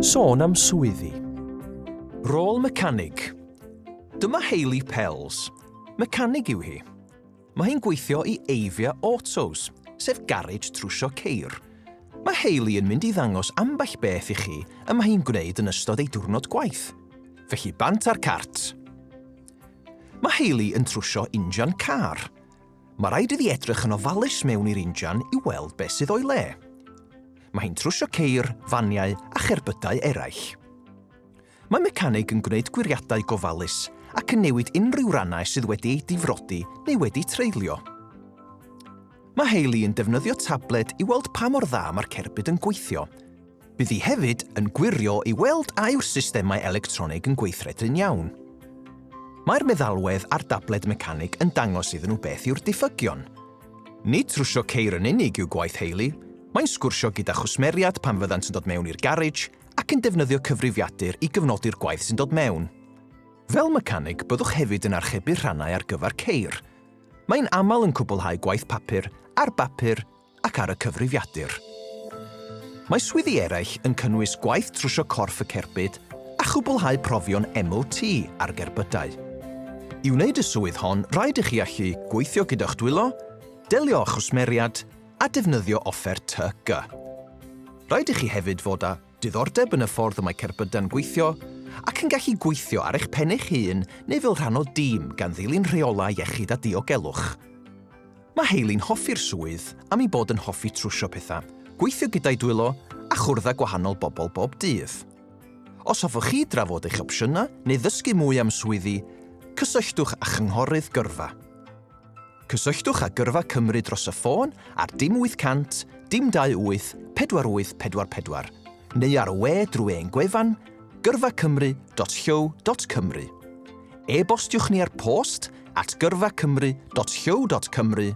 Sôn am swyddi. Rôl mecanig. Dyma Hayley Pells. Mecanig yw hi. Mae hi'n gweithio i Avia Autos, sef garej trwsio ceir. Mae Hayley yn mynd i ddangos ambell beth i chi y mae hi'n gwneud yn ystod ei diwrnod gwaith. Felly bant ar cart. Mae Hayley yn trwsio injan car. Mae rhaid iddi edrych yn ofalus mewn i'r injan i weld beth sydd o'i le. Mae hi'n trwsio ceir, faniau a cherbydau eraill. Mae mecanig yn gwneud gwiriadau gofalus ac yn newid unrhyw rannau sydd wedi eu difrodi neu wedi treulio. Mae Hayley yn defnyddio tabled i weld pa mor dda mae'r cerbyd yn gweithio. Bydd hi hefyd yn gwirio i weld a yw'r systemau electronig yn gweithredu'n iawn. Mae'r meddalwedd a'r dabled mecanig yn dangos iddyn nhw beth yw'r diffygion, Nid trwsio ceir yn unig yw gwaith Hayley, mae'n sgwrsio gyda chwsmeriaid pan fyddant yn dod mewn i'r garej ac yn defnyddio cyfrifiadur i gyfnodi'r gwaith sy'n dod mewn. Fel mecaneg, byddwch hefyd yn archebu rhannau ar gyfer ceir. Mae'n aml yn cwblhau gwaith papur ar bapur ac ar y cyfrifiadur. Mae swyddi eraill yn cynnwys gwaith trwsio corff y cerbyd a chwblhau profion MOT ar gerbydau. I wneud y swydd hon, rhaid i chi allu gweithio gyda'ch dwylo, delio â chwsmeriad a defnyddio offer tŷ gy. Rhaid i chi hefyd fod â diddordeb yn y ffordd y mae cerbydau'n gweithio ac yn gallu gweithio ar eich pen eich hun neu fel rhan o dîm gan ddilyn rheolau iechyd a diogelwch. Mae Hayley'n hoffi'r swydd am ei bod yn hoffi trwsio pethau, gweithio gyda'i dwylo a chwrdd â gwahanol bobl bob dydd. Os hoffech chi drafod eich opsiynau neu ddysgu mwy am swyddi, cysylltwch â Chynghorydd Gyrfa. Cysylltwch â Gyrfa Cymru dros y ffôn ar dim 800 dim 28 4844 neu ar y we drwy ein gwefan gyrfacymru.llyw.cymru. E-bostiwch ni ar post at gyrfacymru.show.cymru,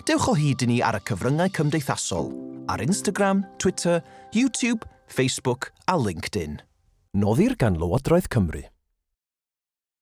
dewch o hyd i ni ar y cyfryngau cymdeithasol, ar Instagram, Twitter, YouTube, Facebook a LinkedIn. Noddir gan Lywodraeth Cymru.